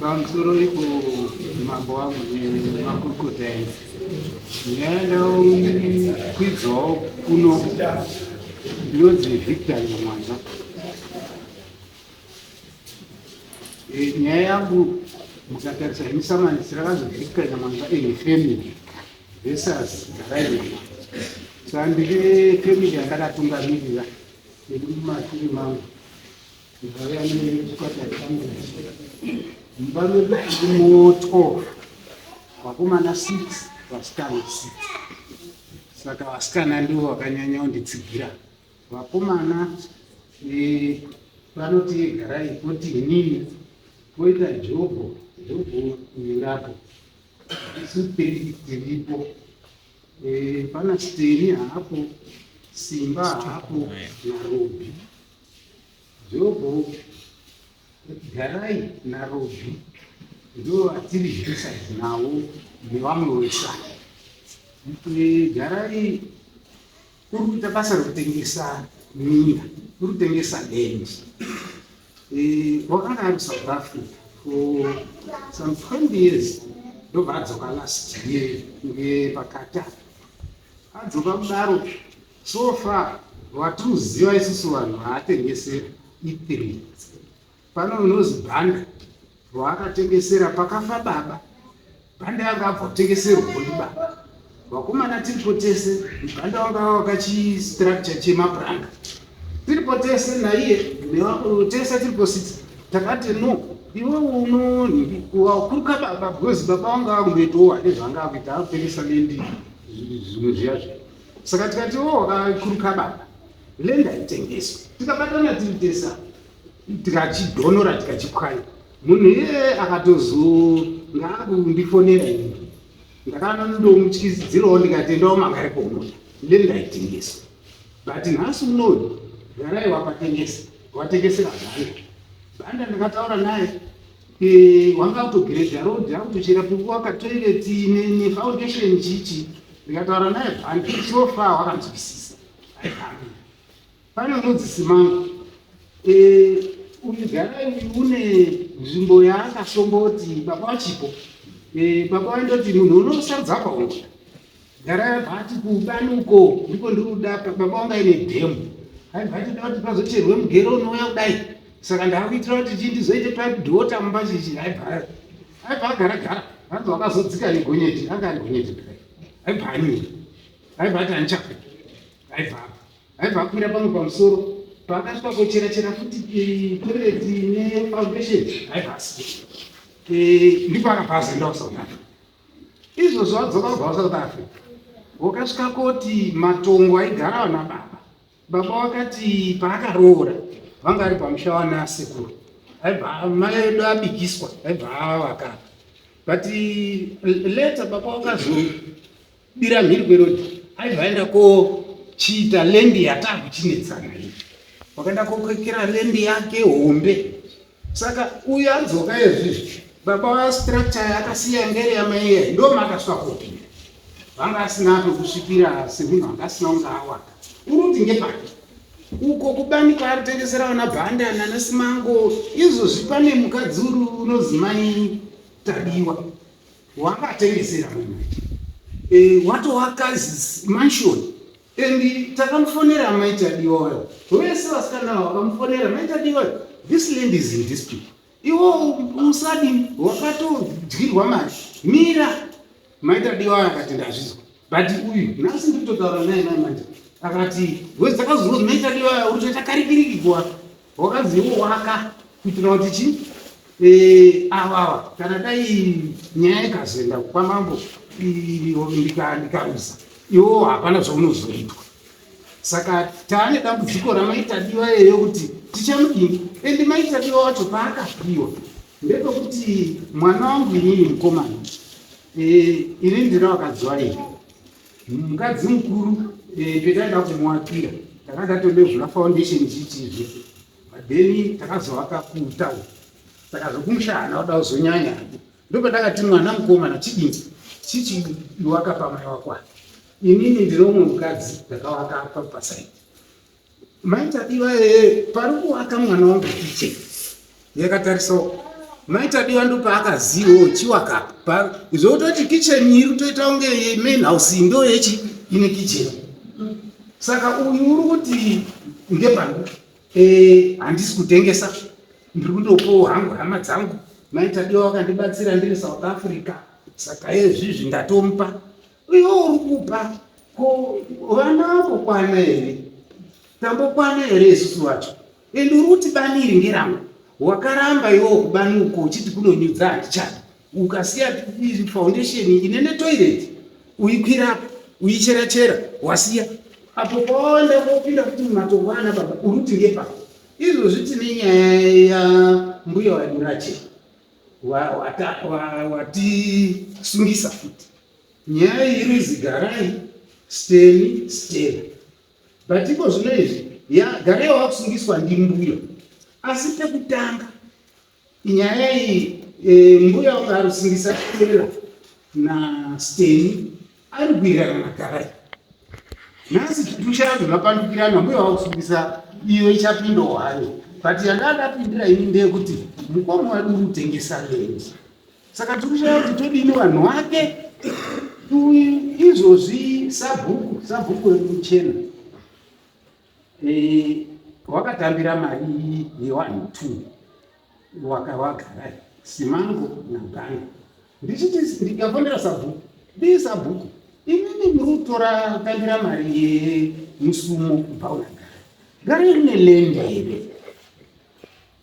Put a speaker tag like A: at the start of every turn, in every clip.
A: pamusoro ipo mambo wangu nemakurukota enzi ndingaendakwidzwawo kuno ndinonzi victor nyamwanza eh, nyaya yangu mukatarisa hemisamani sirakazi victor nyamwanza ehefemili Vesas ndakaiona so handiri vefamily yanga ndatungamirira nekuti mumashure mangu ndikauya nechikwatari changu mumba medu ndimo 12 vakomana 6 vasikana 6 saka vasikana ndivo vakanyanya kunditsigira vakomana eh, vanoti garai koti inini koita jobho jobho nyurapo Steri dziripo. Eh, pana Steri haapo, Simba haapo naRobi. Jobo garai naRobi ndo vatiri zvisaidzi navo nevamwe wesai. Eh, garai Kuri kuita basa rekutengesa minda, kuri kutengesa land. Eh, wakanga ari South Africa for some 20 years ndobva adzoka last year ngepakati apa adzoka kudaro so far watinoziva isusu vanhu vaatengesera ithiri Pano unozi bhanda rwaakatengesera pakafa baba. Bhanda yanga abva kutengeserwawo ndibaba. Vakomana tiripo tese, bhanda wanga wakachistructure chemapuranga. Tiripo tese naiye nevakuru tese tiripo sisi. Takati no, iwe unoni wakuruka baba because baba wanga akungoitowa nezvanga akuita akutengesa lendi zvinhu zviya zviya. Saka tikati wo wakakuruka baba. Lendi haitengeswi. Tikabatana tiri tese apa. tikachidhonora tikachipwanya munhu iyeye akatozonga akundifonera ini ndakanandomutyizidzirawo ndikatendawo manga ari pomota ndeni ndaitengesa but nhasi unoyu garai wakatengesa watengesera bhanda bhanda ndakataura naye wanga autogreda road akutochera pekuwaka toilet nefoundation chichi ndikataura naye bhanda so far wakanzwisisa aihambi Pane anonzi Simanga eh, uyu Garai une nzvimbo yaakasomboti baba vachipo eh, baba vandoti munhu unosarudza apa ungu Garai abva ati kubanuko ndiko ndiri kuda baba vanga ine dhemu aibva ati kuti pazocherwe mugero unouya kudai saka ndakuitira kuti chii ndizoite padhota mumba chichi aibva aibva agara gara anzi wakazodzika negonyeti anga ari gonyeti kudai aibva anyira aibva ati andichakuita aibva apa aibva akwira pamwe pamusoro paakasvika kochera chera futi eh, toilet ne foundation aibva asi eh, ndipo akabva azoenda kusouth africa izvozvo adzoka kubva kusouth africa wakasvika koti matongo aigara vana baba baba wakati paakaroora vanga ari pamusha wana asekuru aibva mai edu abikiswa aibva avakapa but eh, later baba wakazo bira mhiri kwerodi aibva aenda kochiita lendi yataa kuchinetsana iyi wakaenda kokwekera lendi yake hombe saka uyu adzoka ezvizvi baba vastructure yakasiya ngere yamaiye ndo makaswa kopinda vanga asina pekusvikira semunhu anga asina kunge awaka uruti ngepake uko kubani kwaari tengesera vana bhandana nesimango izvozvi pane mukadzi uri unozimai tadiwa wakatengesera munhu e, watovaka mansion and takamufonera maita diwayo vese vasikana vakamufonera maita diwayo this land is in dispute iwo usadi wakatodyirwa mari mira maita diwayo akati ndazvizwa but uyu nhasi ndikutotaura naye mai manja akati wese dzakazonzi maita diwayo utoita karikiriki kuwa Wakazviwaka kuitira kuti chi eh, avava kana dai nyaya ikazoenda kwamambo ndikarusa iwo hapana zvaunozoitwa saka taane dambudziko ramaitadiwa eyo kuti tichamudini endi maitadiwa wacho paakapiwa ndepekuti mwana wangu inini mukomana eh, ini ndira wakadziwa ii mukadzi mukuru eh, petaida kumuakira tanga ndatondozvula foundation chichizve then takazovaka kutown saka zvokumusha hana kuda kuzonyanya ndopandakati mwana mukomana chidini chichiwaka pamai wakwa inini ndiri umwe mukadzi ndakawaka apa pasaidi Mai Tadiwa ee pari kuwaka mwana wangu kiche yakatarisawo mai Tadiwa ndo paakazivawo chiwaka pa zvototi kicheni iri toita kunge main house ndo yechi ine kicheni saka uyu uri kuti ngepangu ee handisi kutengesa ndiri kutopowo hangu hama dzangu mai Tadiwa wakandibatsira ndiri South Africa saka ezvizvi ndatomupa Iwe uri kupa ko vana vambokwana here tambokwana here isusu vacho ende uri kuti bani iri ngerangu wakaramba iwo kubani uko uchiti kunonyudza handichadi ukasiya foundation ine netoilet uikwirapo uichera chera wasiya apo kwawaenda kopinda kuti mumatongo ana baba uri kuti ngepako izvozvi tine nyaya yambuya waimurache watisungisa futi nyaya iri zigarai steni stela but iko zvino izvi garai wakusungiswa ndimbuyo asi pekutanga nyaya iyi e, mbuya ukarusungisa stela nasteni Ari kuirana na Garai. Nhasi chitutu changu zvapandukirana mbuya wakusungisa iyo ichapinda wayo. But yandandapindira ini ndeyekuti mukoma wadu uri kutengesa land. Saka tiri kushaya kuti todini vanhu wake izvozvi sabhuku sabhuku remuchena eh, wakatambira mari yewanhu two wakawagarai simango naganga ndichiti ndikafonera sabhuku dii sabhuku imimi muri kutora kutambira mari yemusumo kubva unagara gara rine lenda here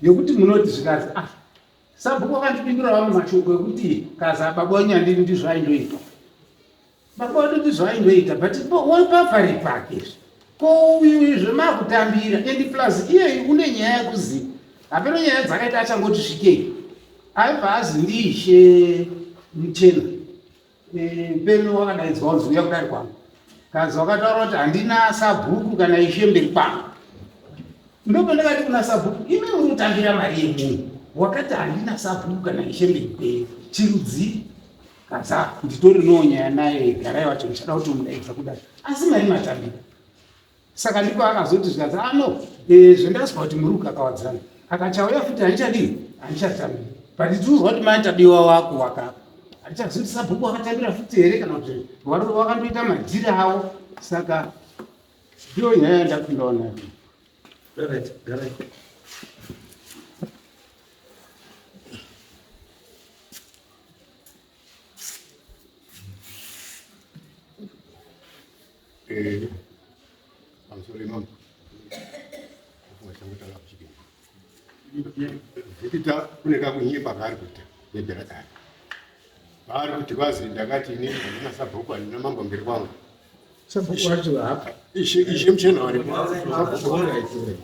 A: yekuti munoti zvikazi ah sabhuku vakandipindura vamwe mashoko ekuti kaza baba wenyandini ndizvo aindoita Baba wedu ndizvo aingoita but wapapari pake izvi ko uyu izvo makutambira and plus iyeyi une nyaya yekuzi hapeno nyaya dzakaita achangoti svikei aibva azi ndiishe muchena peno wakadaidzwa kunzi uya kudari kwangu kanzi wakataura kuti handina sabhuku kana ishe mberi kwangu ndopandakati kuna sabhuku imi uri kutambira mari yemunhu wakati handina sabhuku kana ishe mberi kwenyu chirudzii Kadzako nditori no nyaya naye garai wacho ndichada kuti mudaidza kudai asi mari matambira saka ndipo akazoti zvikanzi ano ah, eh, zvendaziva kuti muri kukakawadzana akachauya futi handichadii handichatambira but ndiuziva kuti mai tabiwa wako wakapa handichazivi kuti sabhuku wakatambira futi here kana kuti varoro vakandoita madhiri avo saka ndiyo nyaya yandakundawo nayo
B: Eh, I'm sorry, mom. Zvikita kune kakunye pavari kuita nebhera kare. Pavari kuti vazi ndakati ini handina sabhuku handina mambo mberi kwangu. Sabhuku
A: wacho hapa. Ishe ishe mchena
B: wari. Sabhuku wanga itori.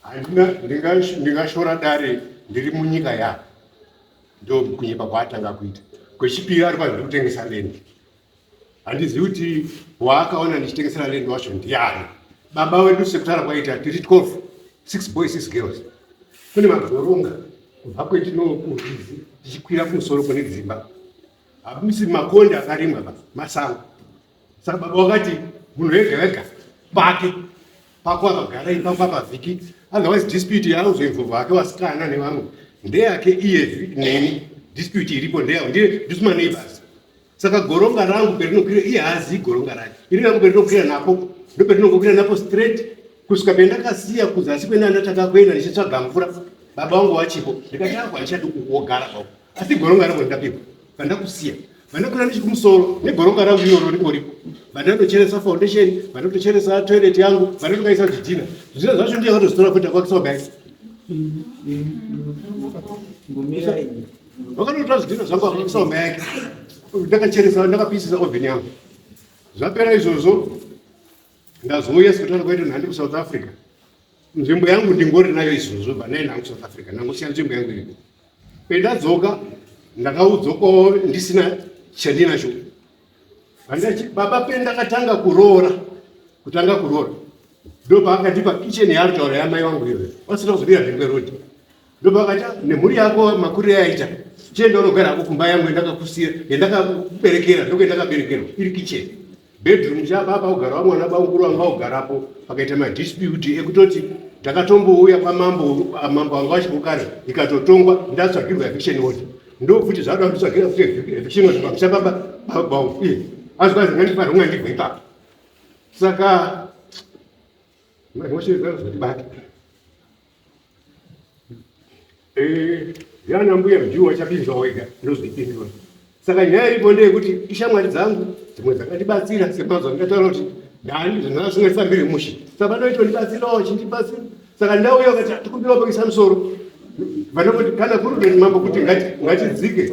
B: Handina ndingashora dare ndiri munyika yako. ndokunyepa kwaatanga kuita kwechipiri ari kwazviri kutengesa lendi handizivi kuti waakaona ndichitengesera lendi wacho ndiani baba wedu sekutara kwaita tiri 12 six boys six girls kune magoronga kubva kwetinokuzizi tichikwira kumusoro kune dzimba hamisi makonde akarimwa masango Saka baba wakati munhu wega wega pake pako akagara ipapo apavhiki otherwise dispute yauzoinvo vake wasikana nevamwe ndeyake iye neni dispute iripo ndeya ndiye ndisuma neighbors saka goronga rangu perinokwira iye haazivi goronga rake iri rangu perinokwira napo ndoperinokwira napo straight kusvika pendakasiya kuzasi kwena ndatanga kuenda ndichitsvaga mvura baba wangu wachipo ndikati ako handichadi kugara pao asi goronga rangu rakapepa vandakusiya vanokura ndichikumusoro negoronga rangu iroro rikoriko vandandocheresa foundation vandandocheresa toilet yangu vandandokaisa zvidhina zvidhina zvacho ndiye akatozitora kuti akwakisa wagaisa vakatotora zvidhina zvangu akwakisa wama yake ndakacheresa ndakapisisa oven yangu zvapera izvozvo ndazouya sikutana kwaito nhandi kusouth africa nzvimbo yangu ndingori nayo izvozvo banayi nangu south africa ndangosiya nzvimbo yangu iriko Pendadzoka ndakaudzwa kwavo ndisina chandinacho handati baba pendakatanga kuroora kutanga kuroora ndopaakatipa kicheni yaaritaura yamai wangu iyo vasina kuzobira zvekwe rodi ndopakati ah, nemhuri yako makurire yaita chienda unogara hako kumba yangu yandakakusira yandakakuberekera ndokuendakaberekerwa iri kicheni Bedroom chaba pakugara vamwana bamukuru vanga vagarapo pakaita madispute ekutoti ndakatombouya kwamambo mambo vanga vachibukana ikatotongwa ndatsvagirwa eviction order ndokuti zvakuda kutitsvagira kuti eviction order pamusha pamba bauye azvazi ngandifanira kunga ndibva ipapo saka mashezazotibata Eh, yana mbuya mjuu wachapinzwa wega ndozvipindura saka nyaya iripo ndeyekuti ishamwari dzangu dzimwe dzakandibatsira semazuva ndikataura kuti ndani zvinaa zvingaisa mbiri mushe saka vanoitwa ndibatsirawo chindibatsira saka ndauya ukati tikumbira wapakisa musoro vanoti kana kuri veni mambo kuti ngatidzike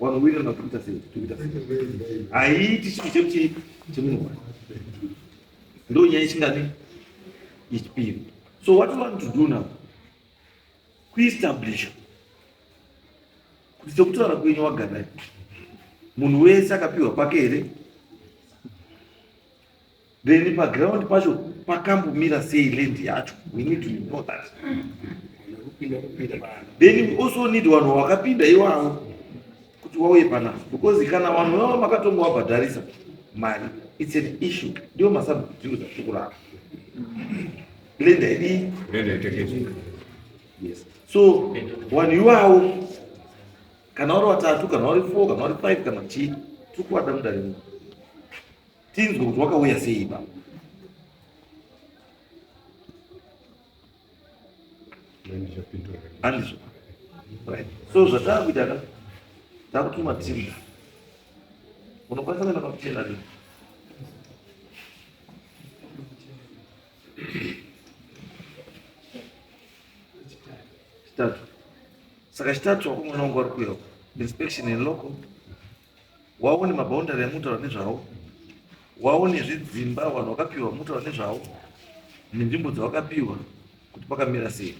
C: Wanowirirana kuti kuita sei? Kuita sei? Haiti chinhu chekuti chemunhu wani. Ndo nyaya ichingani yechipiri. So what you want to do now? Kuestablish kuti sekutaura kwenyu wagarai munhu wese akapiwa kwake here then paground pacho pakambomira sei land yacho we need to know that then we also need vanhu vakapinda iwavo kuti wauye panapa because kana vanhu vavo makatonga wabhadharisa mari it's an issue ndiwo masabhudhiro dzatiri kurapa land haidii yes so vanhu iwavo kana vari vatatu kana vari four kana vari five kana chii tiri kuvada mudare muno tinzwe kuti wakauya sei ipa andizvo so zvataakuita ka takutuma timu unokwanisa kuenda pakuchena ri chitatu saka chitatu wakumwana wangu wari kuuya inspection in local waone maboundary amunotaura nezvawo waone zvidzimba vanhu vakapiwa munotaura nezvawo nenzvimbo dzavakapiwa kuti pakamira sei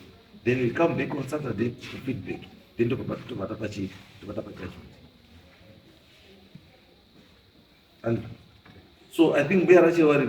C: then we come back on saturday to feedback then tobata pachii tobata pajudgment and so i think mbuya rachevari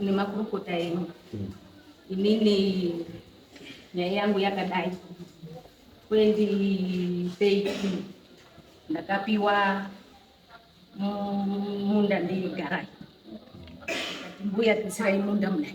D: nemakurukota enyu hmm. inini nyaya yangu yakadai 2013 ndakapiwa munda ndeigara kati mbuya tisirai munda mudai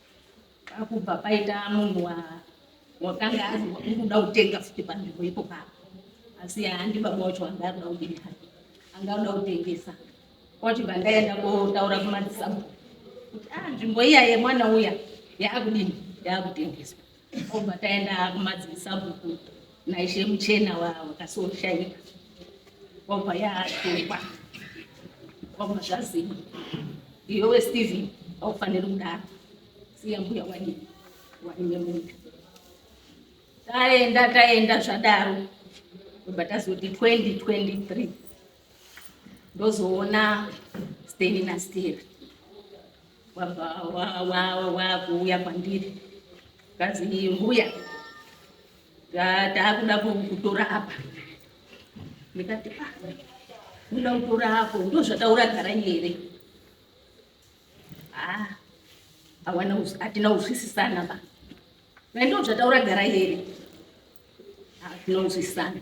D: Akubva paita munhu wakanga akuda kutenga futi panzvimbo ipo papa asi handi baba wacho anga akuda kudini hake anga akuda kutengesa kwachibva ndaenda kotaura kumadzisabhu kuti a ah, nzvimbo iya yemwana uya yaakudini yaakutengeswa Obva taenda kumadzibisabhuku naishe muchena wakasoshaika obva yaatokwa obva zvaziva iyowe stephen aufaniri kudaro siya mbuya wani waine muda taenda taenda zvadaro obva tazoti 2023 ndozoona steni nasteri wakuuya kwandiri kazi mbuya taakuda kutora apa ndikati ah, unoda kutora apo ndo zvataura gara here ah, awana atina uzwisisana ba Naendo zvataura garai here. Tinonzwisana.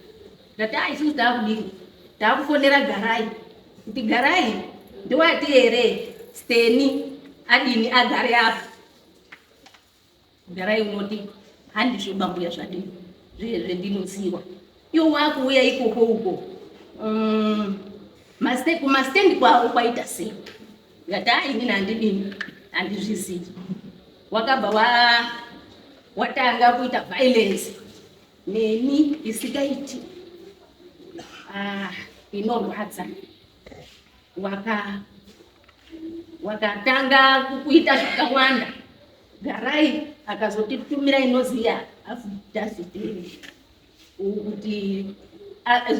D: Ndati ah isusu taakudii? Taakufonera garai. Kuti garai ndiwati here Steni adini agare apa. Garai unoti handizvo bambuya zvadini zviye zvendinoziwa. Iwo wakuuya ikoko uko. Mm. Maste kumastendi kwavo kwaita sei? Ndati ini nandidini handizvizivi. Wakabva wa watanga kuita violence neni isikaiti ah, inorwadza waka wakatanga kuita zvakawanda garai akazotitumira inoziya afu dazidei kuti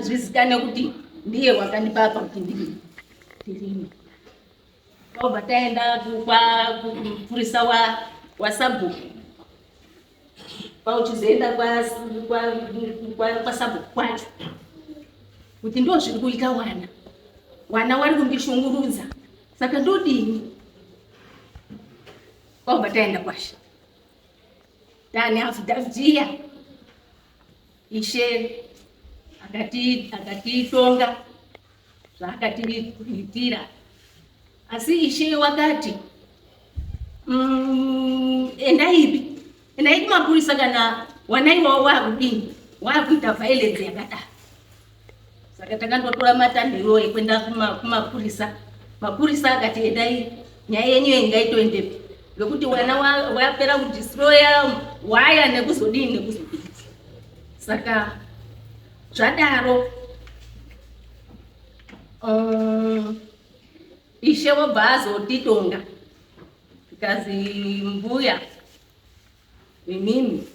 D: zvizikanwe kuti ndiye wakandipa apa kuti ndirime tobva taenda kupurisa wasabhuku pauchizoenda kwasabhuku kwacho kuti ndo zviri kuita wana wana wari kundishungurudza saka ndodini kwakubva taenda kwashe Dani azidaziya ishe akatitonga zvaakatiitira asi ishe wakati mm, endaipi endai kumapurisa kana wanaiwawo waakudini waakuita vhailence yakadaro saka takandotora matanhiro ekuenda kumapurisa mapurisa akati endai nyaya yenyu ingaitoendepi vekuti wana wapera kudistroya waya nekuzodii nekuzodii saka zvadaro um, ishe wobva azotitonga zvikanzi mbuya Inini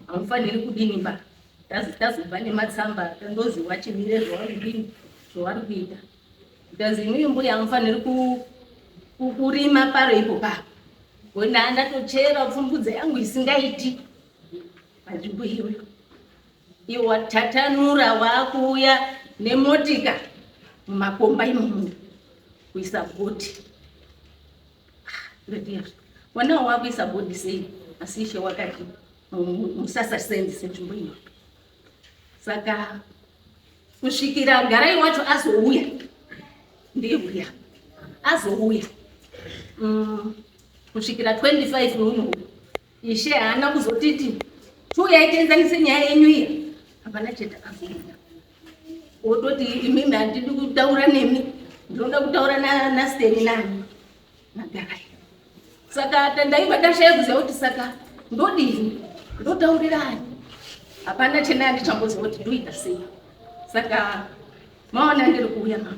D: hamufaniri kudini ba tazitazobva nematsamba tandozi wachimire zvawanodini zvawari kuita bcause imii mbuya hamufaniri kurima paro ipo pa wenda ndatochera pfumbudza yangu isingaiti panzvimbo iwe iwe watatanura wakuuya nemotika mumakomba imomo kuisa goti Ndodia. Wana wakuisa body sei? Asi ishe wakati musasa sendi senzvimbo iyo. Saka kusvikira garai wacho azouya. Ndiye uya. Azouya. Mm, kusvikira 25 uno. Ishe haana kuzotiti chiuyai tienzanise nyaya yenyu iya, hapana chete akazoita wototi imimi handidi kutaura nemi ndinoda kutaura nasteni nani magarai saka tandaiva tashaya kuziva kuti saka ndodini ndotaurirani hapana chena andichamboziva kuti ndoita sei saka maona ndiri kuuya mama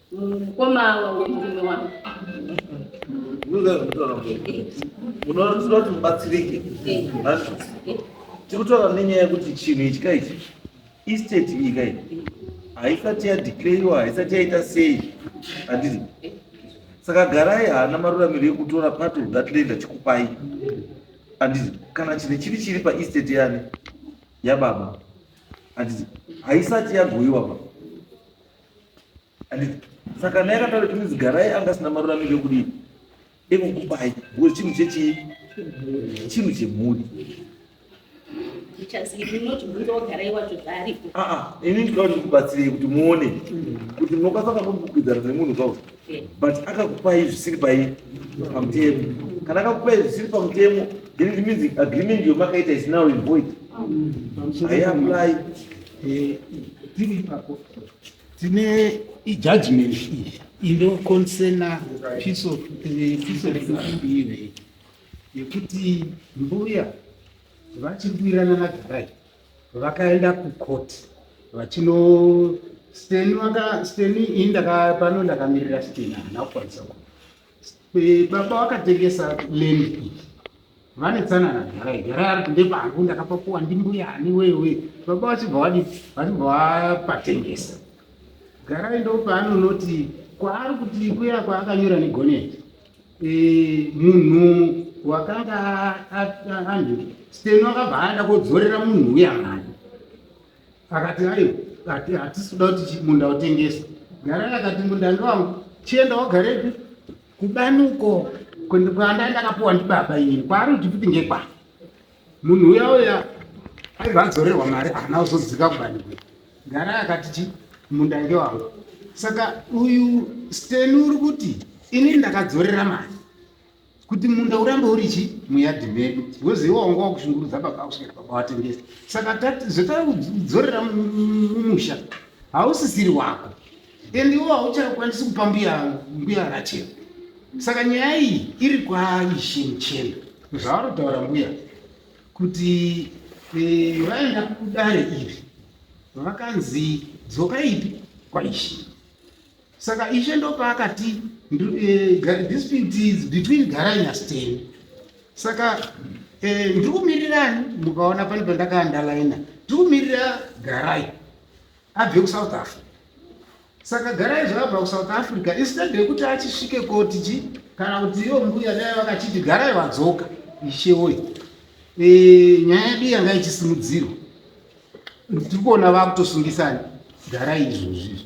D: Mukoma
C: wemurume wangu. Unoona kuti unoti mubatsirike. Tikutaura nenyaya yekuti chinhu ichi ka ichi estate iyi ka ichi haisati yadeclaiwa haisati yaita sei handiti saka garai haana maruramiro ekutora part of that land achikupai handiti kana chine chiri chiri paestate yani yababa handiti haisati yagoiwa ba saka naye akataura kuti zigarai anga asina maruramiro ekudii ekukupai because chinhu chechii chinhu chemhuri ah, ah, ini ndikauti kubatsirei kuti muone kuti munokwanisa kakumbukwidzana nemunhu kwao but akakupai zvisiri pai pamutemo kana akakupai zvisiri pamutemo then it means agreement yomakaita is now in void haiapply eh, tiri
A: ipapo tine ijudgment iyi inokonsena piece of eh, piece of ive yekuti mbuya vachiri kuirana nagarai vakaenda kucourt vachino steni vaka steni ini ndaka pano ndakamirira steni haana kukwanisa ku Eh, baba vakatengesa land iyi vane tsanana garai garai ari kunde pangu ndakapapuwa ndimbuya ani wewe baba vachibva vadii vachibva vapatengesa garai ndo paanonoti kwaari kuti kuya kwaakanyora negoneti Eh, munhu wakanga a- a- anhu steno akabva aenda kodzorera munhu uya mwana akati aiwa ati hatisi kuda kuti chi- munda utengeswe garai akati munda ndewangu chienda wagarepi kubani uko kundi- kwandai ndakapuwa ndibaba inini kwaari kuti kuti ngekwani munhu uya uya aibva adzorerwa mari haana kuzodzika kubani kwe garai akati chi munda ngewangu saka uyu steni uri kuti inini ndakadzorera mari kuti munda urambe uri chi muyadhi medu because iwe wanga wakushungurudza baba kusvika baba watengesa saka zvotakudzorera mumusha hausisiri wako and iwe hauchakwanisi kupa mbuya mbuya rachena saka nyaya iyi iri kwaishe muchena zvaanotaura mbuya kuti eh, vaenda kudare iri vakanzi dzoka ipi kwaishe Saka ishe ndopaakati eh, dispute is between Garai naSteni. Saka eh, ndiri kumirirani mukaona pane pandakaandalaina ndiri kumirira Garai abve kuSouth Africa. Saka Garai zvakabva kuSouth Africa instead yekuti achisvike koti chi kana kuti iyo mbuya dai vakachiti Garai vadzoka ishe woye. Eh, nyaya yedu yanga ichisimudzirwa. Tiri kuona vakutosungisana Garai izvozvi.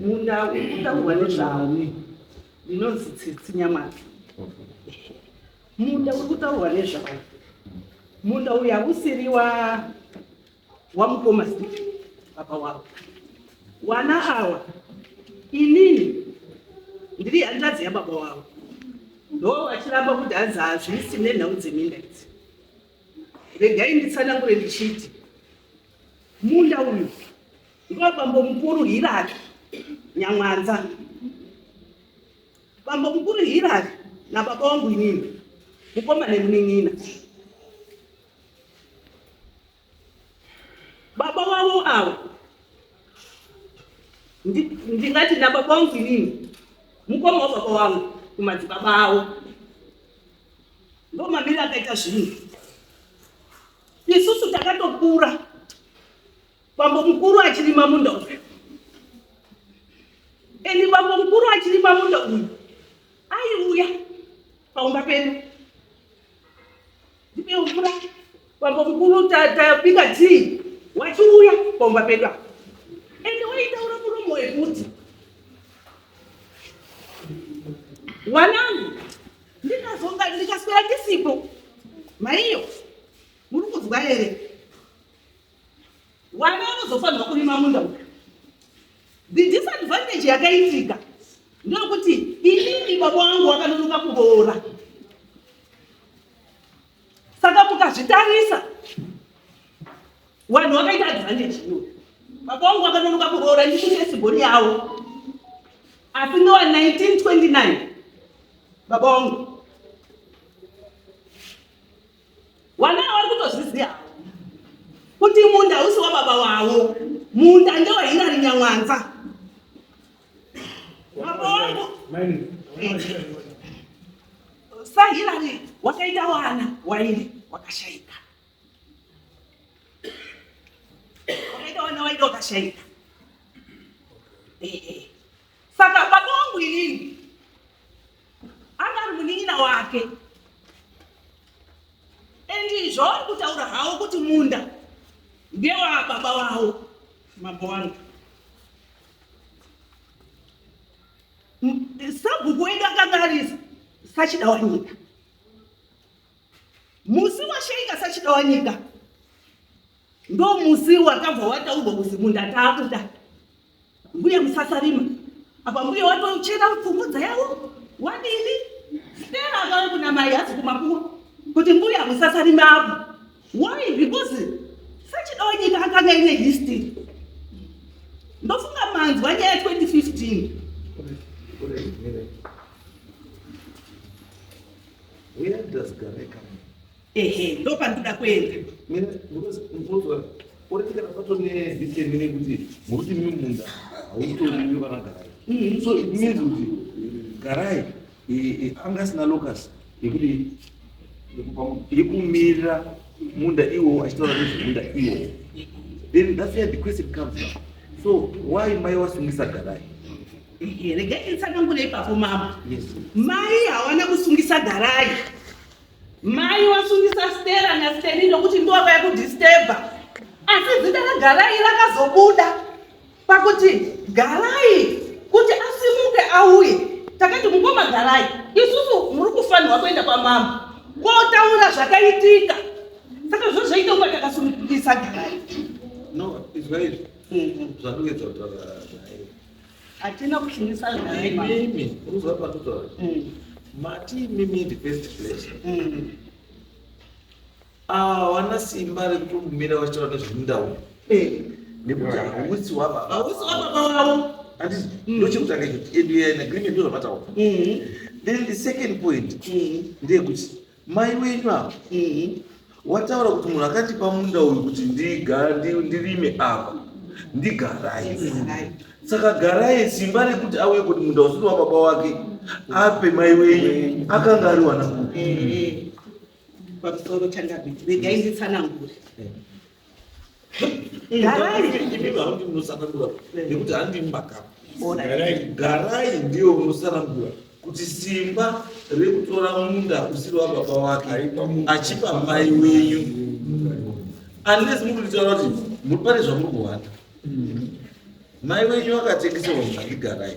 E: Munda uri kutaurwa nezvawo ndinonzi Tsitsi Nyamata. Munda uri kutaurwa nezvawo. Munda uyu hausiri wa wamukoma Steve baba wavo. Wana awa inini ndiri hanzvadzi yababa wavo ndoo vachiramba kuti hanzi hazvisi nenhau dzeminda idzi. Regai nditsanangure ndichiti munda uyu Ndivo bambo mukuru Hillary Nyamwanza. Bambo mukuru Hillary nababa wangu inini mukoma nemunin'ina. Baba wavo avo ndingati nababa wangu inini mukoma wababa wangu kumadzibaba avo ndo mamiri akaita zvinhu isusu takatokura Bambo mukuru achirima munda uyu. Eni bambo mukuru achirima munda uyu. Aiuya paumba pedu. Ndipe mvura. Bambo mukuru tabika ta, tii wachiuya paumba pedu apa. Ende waitaura muromo wekuti wanangu ndikazonga ndikaswera ndisipo maiyo muri kuzwa here Wana vanozofanirwa kurima munda uyu. The disadvantage yakaitika ndokuti inini baba wangu wakanonoka kuroora saka mukazvitarisa vanhu vakaita advantage iyoyo baba wangu vakanonoka kuroora ndikutesibhoni yavo asi ndowa 1929 baba wangu Wanaa wari kutozviziva kuti munda hausi wababa wavo, munda ndewa Hillary Nyamwanza. Baba wangu sa Hillary wakaita wana wairi wakashaika, wakaita wana wairi wakashaika. Eh, eh. Saka baba wangu inini anga ari munin'ina wake and zvauri kutaura hawo kuti munda ndewababa wawo mambo wangu sabhuku wedu akanga ari sachida wanyika musi washeika sachida wanyika ndo musi wakabva wataurwa kuzi munda taakuda Mbuya musasarima apa mbuya watochera pfumudza yavo wadini stera akave kuna mai hazi kumakuwa kuti mbuya musasarima apo why because sachidawo nyika akanga ine history ndofunga manzwa nyaya 2015
C: Where does Gare come ehe
E: ndopandinoda
C: kuenda orekera pato nedisemi nekuti muruti mimi munda hautoriwe vanagara mm-hmm. so it means kuti garai anga asina locus yekuti yekumirira munda iwowo achitaura nezvemunda iwowo then that's where the question comes up so why mai wasungisa garai regai
E: nditsanangure ipapo mama mai
C: hawana
E: kusungisa garai Mai wasungisa Stella na Steny nokuti ndova yakudisturba. Asi zita raGarai rakazobuda pakuti Garai kuti asimuke auye. Takati mukoma Garai, isusu muri kufanirwa kuenda kwamama kotaura zvakaitika. Saka zvozvaita kunge takasunungisa Garai. No,
C: izwa izvi. Zvakunge dzotora.
E: Hatina kushumisa zvema. Imimi, unozwa
C: pakutora. Mm. Mati imimi in the first place. Mm. Ah, wana simba rekumira wachitaura nezvemunda uyu. Eh. Nekuti hausi wababa. Hausi wababa wavo.
E: Andis, mm.
C: ndochekutanga kuti and we are in agreement ndozvamataura. Mm. Then the second point mm. ndeyekuti Mai wenyu apa uhu wataura kuti munhu akandipa munda uyu kuti ndigara ndi- ndirime apa ndigarai saka garai simba rekuti auye kuti munda usiri wababa wake ape mai wenyu akanga ariwana kupi Eh, pamusoro
E: changabe regai nditsanangure
C: garai ndiyo unosarangura kuti simba rekutora munda usiri wababa wake achipa mai wenyu unless muri kutaura kuti muri pane zvamuri kuhwanda mai wenyu vakatengesewa munda ndigarai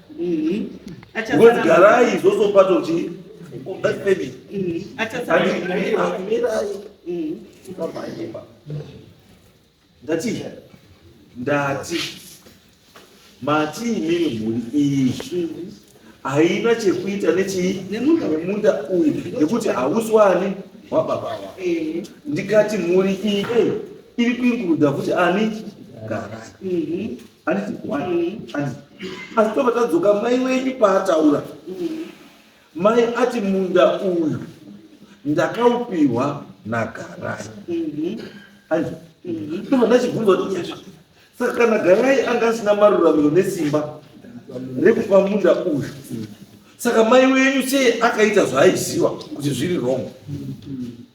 C: Ngozi garai izvozvo pato kuti undafemi. Mirai. Ndamhanyemba. Ndati. Ndati. Mati imimi mhuri iyi haina chekuita nechii nemunda uyu nekuti hausi wani wababa ndikati mhuri iyi iri kuinguruda kuti ani garai handiti wani handiti asi tobva tadzoka mai wenyu paataura mai ati munda uyu ndakaupiwa nagarai mhm. handiti mhm. tobva ndachibvunza kuti yasha saka kana garai anga asina maruramiro nesimba rekupa munda uyu saka mai wenyu sei akaita zvaaiziva kuti zviri wrong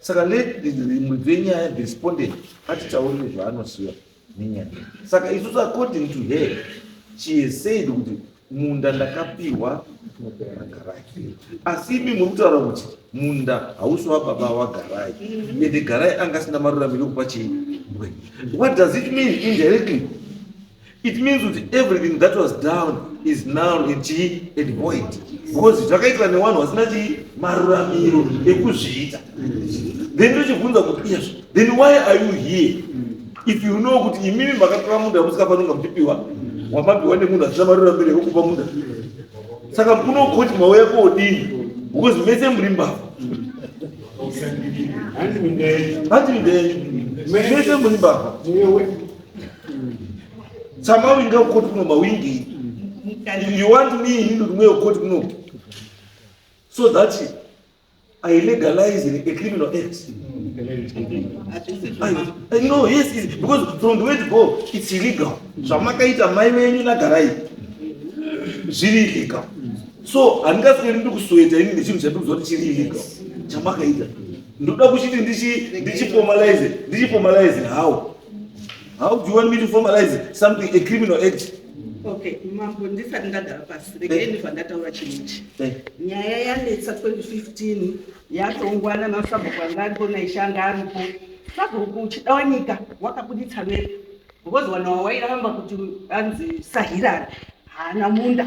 C: Saka rimwe dzenyaya the respondent atitaurire zvaanoziva nenyaya saka isusu according to her she has said kuti munda ndakapihwa magarai asi imi muri kutaura kuti munda hausi wababa wagarai ende garai anga asina maruramiro ekupa chii what does it mean indirectly It means kuti everything that was down is now in chii and void because zvakaitwa newanhu wasina chii maruramiro ekuzviita then ndochibvunza kuti yes then why are you here if you know kuti imimi makatora munda musikafanonga muchipiwa wamapiwa nemunhu asina maruramiro ekukupa munda saka kuno koti mauya kodii because mese muri mbavha hanzi minde yenyu mese muri mbavha tsama winga ukoti kuno mawingi you want me inini kuti mweyo ukoti kuno so that i legalize a criminal act I, I know, yes, yes, because from the way to go, it's illegal. Zvamakaita mai venyu nagarai zviri illegal. So handingasweri ndi kusweta ini nechinhu chandikuziva kuti chiri illegal chamakaita. Ndoda kuchiti ndichi ndichi formalize, ndichi formalize how? How do you want me to formalize something, a criminal act? Okay, mambo
E: ndisati ndagara pasi eh. regeni zvandataura chinhu ichi eh. nyaya yanetsa 2015 yatongwa namasabhuku anga aripo naishe anga aripo sabhuku uchida wanyika wakabuditsa vere because wana wawairamba kuti anzi sahirari haana munda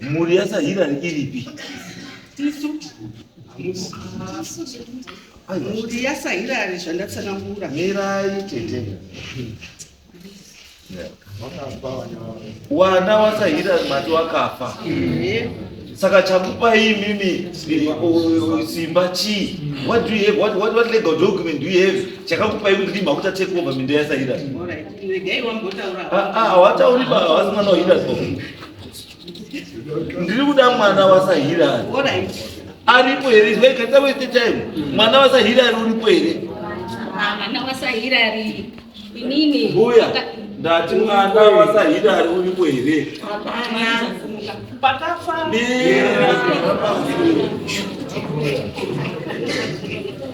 C: mhuri yasahirani iripi mhuri
E: yasahirani zvandatsanangura mirai tete
C: wana wasahirani mati wakafa saka chakupai imimi simba chii what do you have what, what, what legal document do you have chakakupai kuti ndimhakuta take over minda yasahirani
E: hawatauri ah, ah,
C: havasi mwana wahira ndiri kuda mwana wasahira
E: aripo here
C: ivaikatisa wese time mwana wasahira ari uripo here ah, mwana
D: wasahira ari inini mbuya
C: ndati mwana wasahira ari uripo here
E: pakafa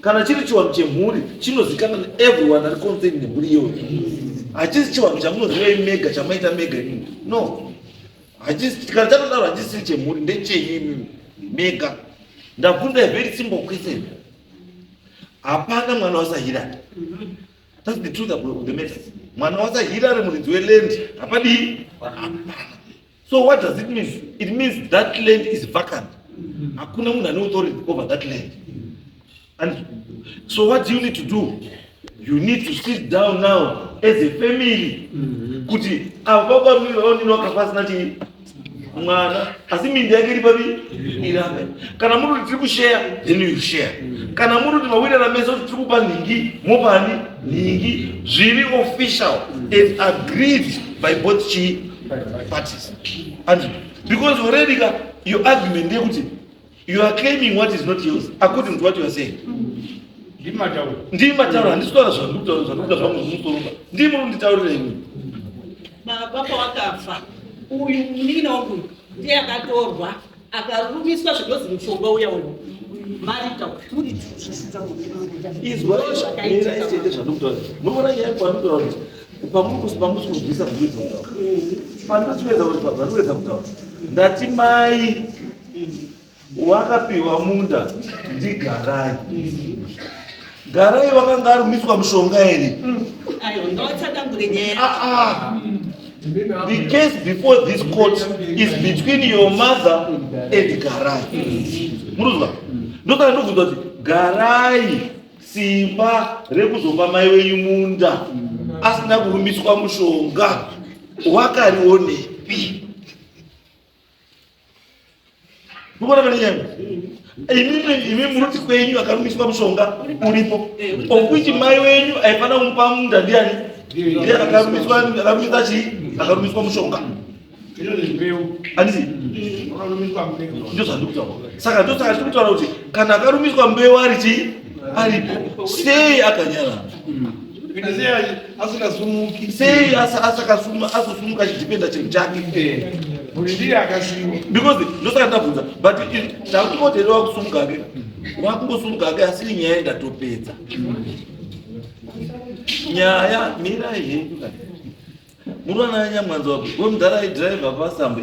C: kana chiri chiwanhu chemhuri chinozikanwa neeveryone ari concern nemhuri iyoyo hachisi chiwanhu chamunoziva imi mega chamaita mega imimi no kana chatodaro hachisiri chemhuri ndechenyu imimi mega ndakunda very simple question hapana mwana wasahirari thats the truth of the matter mwana wasahirari muridzi weland hapadii hapana So what does it mean? It means that land is vacant. Hakuna munhu ane authority over that land. And so what do you need to do? You need to sit down now as a family. Mm-hmm. Kuti avo baba mimi vaonini wakafasina chii mwana asi mindi yake iri papi irambe kana muri kuti tiri kusheya then you share mm-hmm. kana muri kuti mawirana mese kuti tiri kupa nhingi mopani nhingi zviri official mm-hmm. and agreed by both chii parties and because already ka your argument ndeyekuti you are claiming what is not yours according to what you are saying ndii matauro handisitaura zvandokuda zvangu zvimusoromba ndii muri kunditaurira imwe baba
E: pawakafa uyu munin'ina wangu ndiye akatorwa akarumiswa zvinozi mushonga
C: uya uya marita kuri izwaaaiitete zvandokutora munoona nyaya kwandokutora kuti pamusi pamusi kunzwisa zvinzi kutaura pandinotivedza kuti pazvanovedza kutaura ndati mai wakapiwa munda ndigarai Garai vakanga arumiswa mushonga here?
E: Mm. Ah, ah.
C: The case before this court is between your mother and Garai. Muruzwa? Ndosaka ndobvunza kuti Garai simba rekuzopa mai wenyu munda asina kurumiswa mushonga wakarionepi? Mukona mani nyanga. Imimi imimi muruti kwenyu akarumiswa mushonga uripo. Okuti mai wenyu aifana kumupa munda ndiani? Ndiye akarumiswa akarumiswa chi? Akarumiswa mushonga. Andisi. Ndio zvandikutaura. Saka ndio saka ndikutaura kuti kana akarumiswa mbeu ari chi? Aripo. Sei akanyara? asingasumuki sei asakasuma azosumuka achidipenda chinhu chake eh. mhuri ndiye akasiwa because ndosaka ndabvunza but takutingoti here wakusumuka ke wakungosumuka ke asi nyaya indatopedza nyaya mirai henyu muruana anyamwanza wako wemudhara aidhiraivha pasambe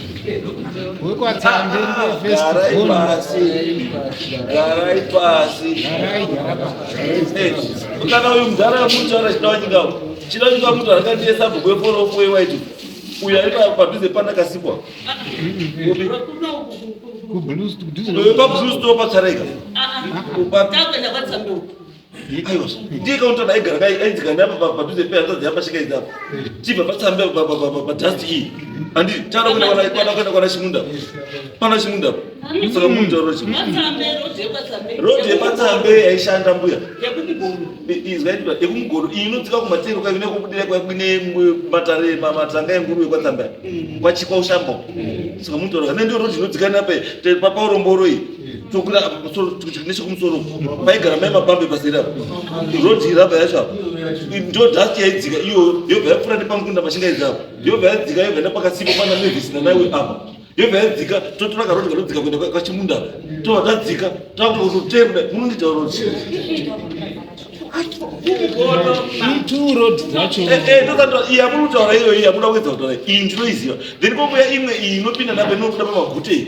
C: garai pasi kana uyu mudhara yamuchara chidawanyika chidawanyika mutu akandiye sabhuku yeforofo yewaiti uyu ari padhuze pandakasikwa pablues to pacharaika Aiwa, ndiye kaunta daigara kai ainzika napa pa padhuze pe hanzvadzi yapa shika idzi apa. Chibva patsambe pa pa pa pa dust iyi. Andi tara kuenda kwana kwana kwana kwana Chimunda. Pana Chimunda. Saka muntu ro Chimunda. Matsambe road yepatsambe. Road yepatsambe yaishanda mbuya. Yekumugoro. Izvaitwa yekumugoro iyi inodzika kumatero kai kune kubudira kwa kune matare matanga enguruwe kwa tsamba. Kwa chikwa ushamba. Saka muntu ro ndio road inodzika napa pa pa uromboro iyi. tokwira apa pamusoro kusvika nechekumusoro paigara mai mabambe pasera road iraba yacho apa ndo dust yaidzika iyo yobva yapfuura nepamukunda machingaidza apa yobva yadzika yobva nepakasipo pana mavis nanaiwe apa yobva yadzika totora karod kanodzika kuenda kwachimunda tova tadzika takuta kutotemda munondiita road yamunotaura iyoyo yamuda kuedza kutaura iyi ndinoiziva then kokuya imwe iyi inopinda napo inokuda pamagute iyi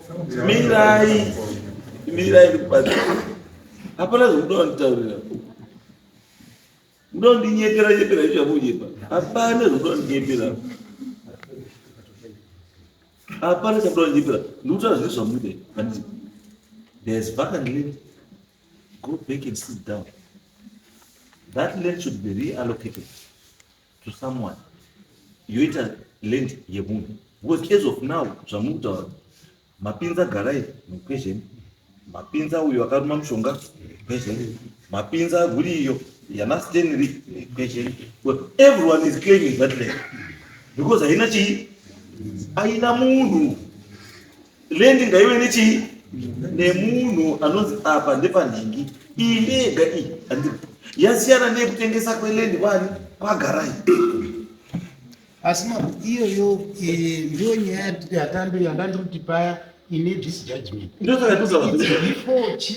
E: mirai mirai kubatsira hapana zvekuda wanditaurira muda kundinyepera nyepera izvo zvakunyepa hapana zvekuda wandinyepera hapana chakuda wandinyepera ndikutaura zviri zvamude but there's vacant land go back and sit down that land should be reallocated to someone yoita land yemunhu because as of now zvamuri kutaura mapinza garai mukwezheni mapinza uyo akaruma mushonga mukwezheni mapinza huri iyo yanastenry mukwezheni but everyone is claiming that land because haina chii aina munhu Lendi ngaive nechii? Nemunhu anonzi apa ndepanhingi. Iyi ndeyega iyi. Yasiyana nekutengesa kwelendi kwani kwagarai.
A: Asi mama iyoyo eh, ndiyo nyaya yatambe yandandikuti paya ine this judgment. Ndosaka tozava. Before chi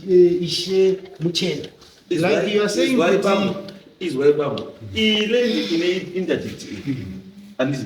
A: eh, ishe muchenda. Like you are saying kuti izwa
C: ibaba. Ile ine interdict. Andisi.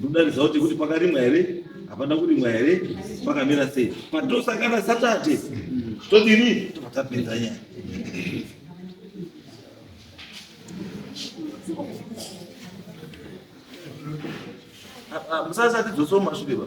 C: Ndodaridza kuti kuti pakarimwa here hapana kurimwa here pakamira sei patosangana satate todini tobva tapinza nyaya musasati dzoso mashure ba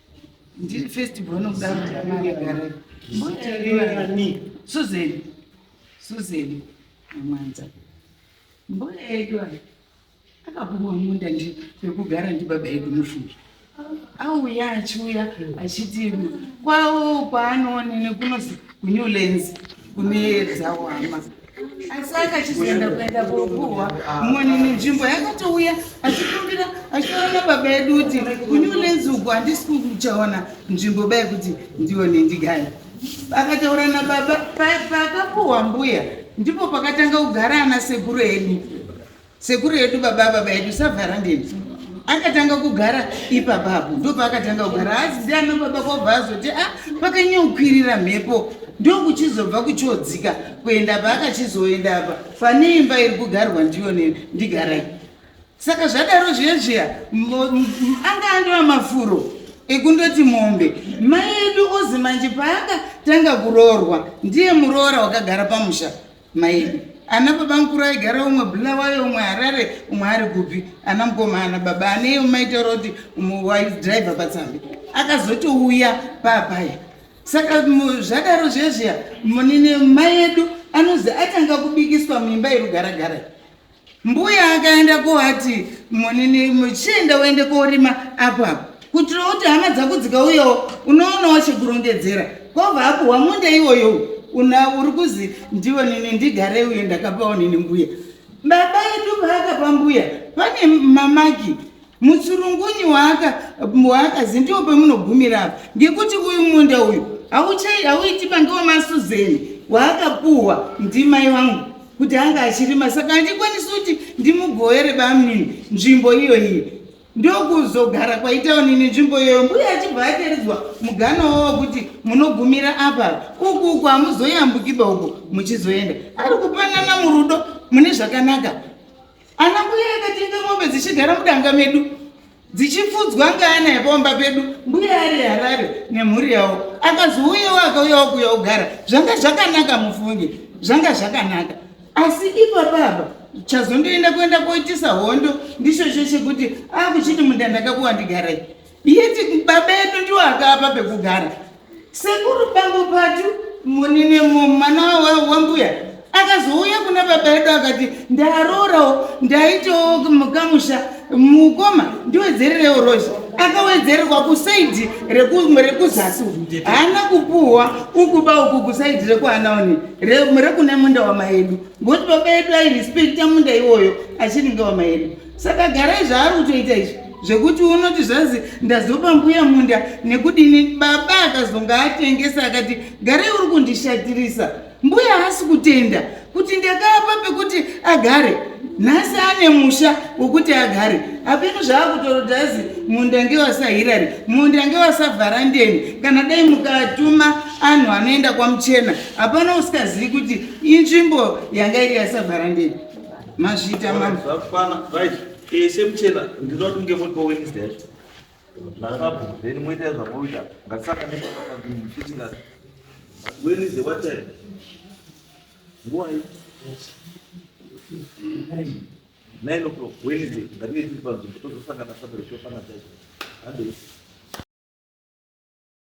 F: ndiri first born kudaro ndamagare mbuyaani susan susan amwanza mbuya yedu ayi akapuwa munda ndi pekugara ndibaba yedu mufungi auya achiuya achiti kwawo kwaanoone nekunozi kunewlands kune dzawama asi akachizoenda kuenda koguhwa moni nenzvimbo yakatouya achikumbira achiona baba yedu kuti kune unenzi uku handisi kuchaona nzvimbo bai kuti ndione ndigai akataura nababa paakapuhwa mbuya ndipo pakatanga kugara ana sekuru edu Sekuru yedu baba baba yedu savhara ndeni. Akatanga kugara ipapa apo ndopa akatanga kugara asi ndiana baba kwabva azoti a ah, pakanyokwirira mhepo ndokuchizobva kuchodzika kuenda pa akachizoenda apa pane imba iri kugarwa ndiyo neni ndigarai. Saka zvadaro zviya zviya anga andova mafuro ekundoti mombe mai edu ozi manje paakatanga kuroorwa ndiye muroora wakagara pamusha Mairi. Ana baba mkuru aigara umwe Bulawayo umwe Harare umwe ari kupi ana mkoma ana baba aneyo maitaura kuti umwe waidrive patsambi akazotouya papaya saka zvadaro zvezviya munini mai edu anozi atanga kubikiswa muimba yerugaragara Mbuya akaenda kovati munini muchienda uende korima apo apo kuitira kuti hama dzako dzikauyawo unoonawo chekurongedzera kwobva apuhwa munda iwoyo una uri kuzi ndiwo nini ndigare uyo ndakapawo nini mbuya baba edu paakapa mbuya pane mamaki mutsurungunyu waakazi ndiwo pamunogumira apa ngekuti uyu munda uyu hauiti pange wamasuzeni waakapuhwa ndimai vangu kuti ange achirima saka handikwanisi kuti ndimugoere bamnini nzvimbo iyo iyo ndokuzogara kwaitaonini nzvimbo iyoyo mbuya achibva ataridzwa mugana wavo kuti munogumira apa uku uku hamuzoyambukiba uko muchizoenda ari kupanana murudo mune zvakanaka Ana mbuya akatenga mombe dzichigara mudanga medu dzichifudzwa ngaana yepomba pedu mbuya ari harare nemhuri yavo akazouyawo akauyawo kuya ugara zvanga zvakanaka mufunge zvanga zvakanaka asi ipa baba chazondoenda kuenda koitisa hondo ndichocho chekuti akuchiti munda ndakakuwa ndigarai Yeti babedu ndiwo akapa pekugara. Sekuru pangu patu munine mwana wambuya akazouya kuna baba yedu akati ndarorawo ndaitawo mukamusha mukoma ndiwedzererewo rozi akawedzererwa kusaidhi rekuzasi haana kupuhwa ukuba uku kusaidhi rekuanaoni rekune munda wamaedu ngokuti baba yedu airispekta munda iwoyo achinenge wamaedu saka garai zvaari kutoita izvi zvekuti unoti zvanzi ndazopa mbuya munda nekudini baba akazonga atengesa akati garai uri kundishatirisa mbuya haasi kutenda kuti ndakapa pekuti agare nhasi ane musha wekuti agare apeno zvaakutorodazi munda ngewasahirari munda ngewasavharandeni kana dai mukatuma anhu anoenda kwamuchena hapana usikazivi kuti inzvimbo yanga iri yasavharandeni Mazvita ma. Zvakwana
C: right. Eh semchela ndinoti nge mutbo Wednesday yacho. Ndakabu then moita zvamoita. Ngatisaka ndipaka kumfiti ngati. When is the what time? Why? Nine o'clock Wednesday. Ngatinge tiri panzvimbo tozosangana Saturday tofana chacho. Hande.